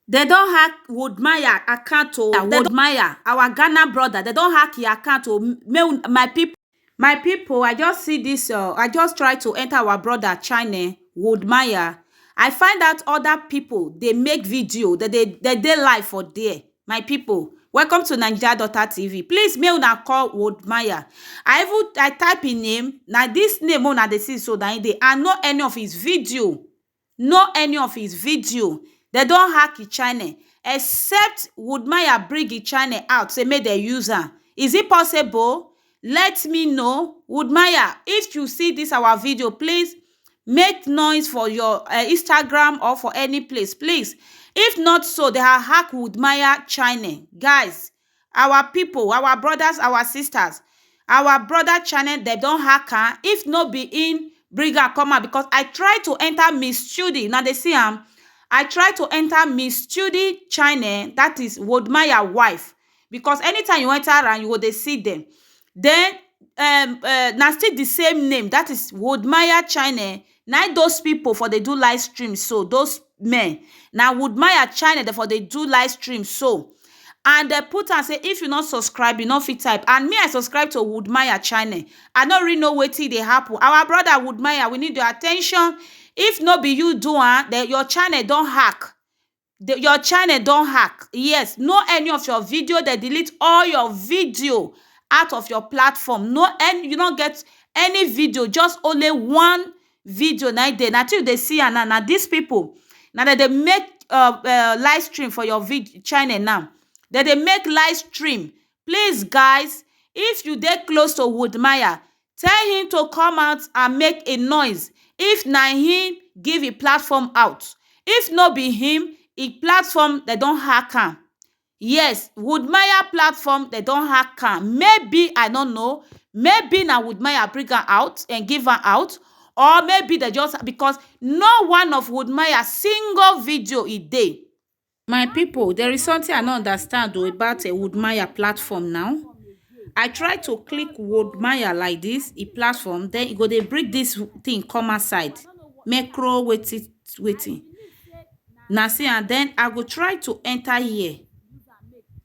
Dem don hack Wodmaya account o, Wodmaya our Ghana brother dem don hack your account o, make una my pipu, my pipu I just see dis um I just try to enter our brother channel Wodmaya I find out other pipu dey make video dem dey dem dey live for there my pipu welcome to Naija daughter TV please make una call Wodmaya I even I type im name na dis name wey una dey see so na im dey and no any of his video know any of his video dem don hack his channel except woodmaya bring his channel out say make dem use am is it possible let me know woodmaya if you see this our video please make noise for your uh, instagram or for any place please if not so they are hack woodmaya channel guys our people, our brothers, our sisters, our brother channel dem don hack am if no be him bring am come out because I try to enter Miss Chudi una dey see am I try to enter Miss Chudi channel that is Wodmaya wife because anytime you enter am you go dey see them then um na still the same name that is Wodmaya channel Nai those people for dey do live stream so those men na Woodmaya channel dem for dey do live stream so and dem put am say if you no subscribe you no fit type and me I subscribe to Woodmaya channel I no really know wetin dey happen our brother Woodmaya we need your attention if no be you do am then your channel don hack the your channel don hack yes no any of your video they delete all your video out of your platform no any you no get any video just only one video na dey na till you dey see am now na these people na dem dey make uh, uh live stream for your video channel now dem dey make live stream please guys if you dey close to woodmaya Tell him to come out and make a noise if na him give him platform out if no be him him platform dem don hack am yes woodmaya platform dem don hack am maybe I no know maybe na woodmaya bring am out dem give am out or maybe dem just because no one of woodmaya single video e dey My people there is something I no understand o about a Woodmaya platform now. I try to click Woodmaya like this, e platform, then e go dey bring this thing come outside. Macro waiting waiting. Na see and then I go try to enter here.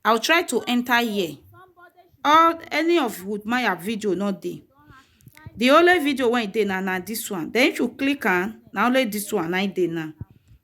I will try to enter here. All any of Woodmaya video no dey. The only video wey dey na na this one. Then if you click am, na only this one na dey now.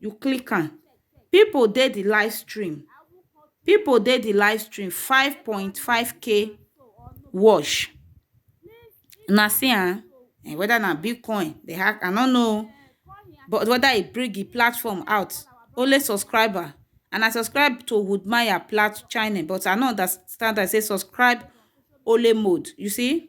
you click am people dey the live stream people dey the live stream 5.5k watch una see am um whether na bitcoin dey hack i no know o but whether e bring the platform out only subscriber and i subscribe to woodmaya plat channel but i no understand am e say subscribe only mode you see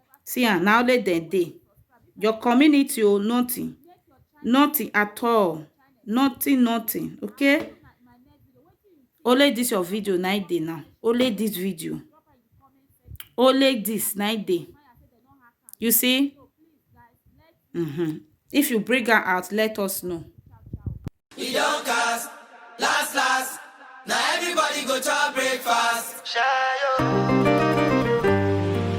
See am, na only dem dey. Your community o, nothing. Nothing at all. Nothing, nothing. Okay? Only this your video na im dey now. Only this video. Only this na im dey. You see? Mm-hmm. If you bring am out, let us know. e don cast last last na everybody go chop breakfast. Shayo.